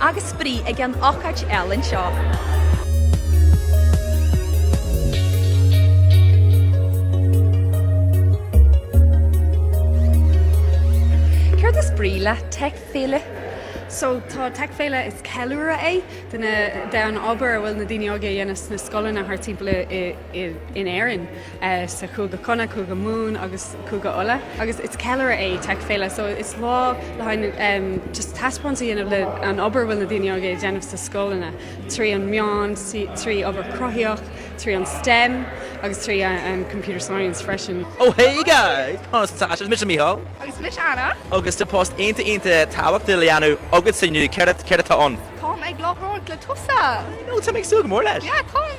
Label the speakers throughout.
Speaker 1: agus spraoi ag an ócáid eile anseo. Céard is brí le Tech Féile? So tá Tech Féile is ceiliúradh é de an obair a bhfuil na daoine óga ag dhéanamh sna scoileanna thart timpeall in Éirinn. sa Cúige Chonnacht, Cúige Mumhan agus Cúige Uladh agus is ceiliúradh é Tech Féile so is lá le haghaidh just taispeáint a dhéanamh le an obair bhfuil na daoine óga ag déanamh sna scoileanna trí an meán trí obair cruthaitheach trí an STEM agus trí an computer science freisin. Oh hey guys! Conas atá sibh? Mise Mícheál. Agus mise Anna. Agus tá post iontach iontach tábhachtach le dhéanamh agatsa inniu, céard atá ann? Táim ag láithreoireacht le tusa. I know, táim ag súil go mór leis. Yeah, táim!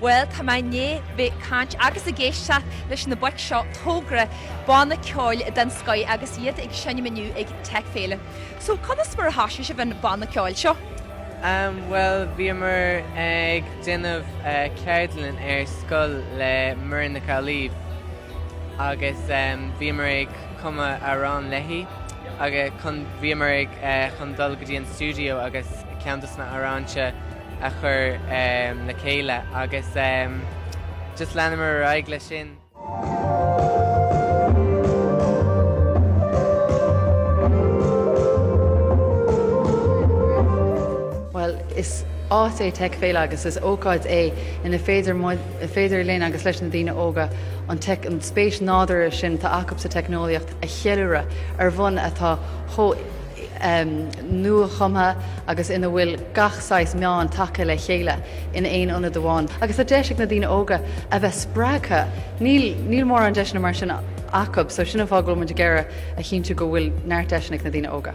Speaker 1: Bhuel, tá mé i ndiaidh bheith ag caint agus ag éisteacht leis na boic seo, Togra, banna ceoil den scoith, agus iad ag seinm inniu ag Tech Féile. So, conas mar a thosaigh sibh an banna ceoil seo? Bhuel, bhíomar ag déanamh ceardlann ar scoil le Muireann Nic Amhlaoibh agus bhíomar ag cumadh amhráin léi agus chun, bhíomar ag, chun dul go dtí an stiúideo agus ceann dos na hamhráin se a chur le chéile agus just leanamar ar aghaidh leis sin. Bhuel, is áit é Tech Féile agus is ócáid é ina féidir muid, féidir linn agus leis na daoine óga an teic, an spéis nádúrtha sin atá acu sa teicneolaíocht a cheiliúradh ar bhonn atá chomh. nuachumtha agus ina bhfuil gach saghas meáin tagtha le chéile in aon ionad amháin. Agus tá deis ag na daoine óga a bheith spreagtha. Níl, níl mórán deiseanna mar sin acu, so sin an fáth go bhfuil muid ag iarraidh a chinntiú go bhfuil neart deiseanna ag na daoine óga.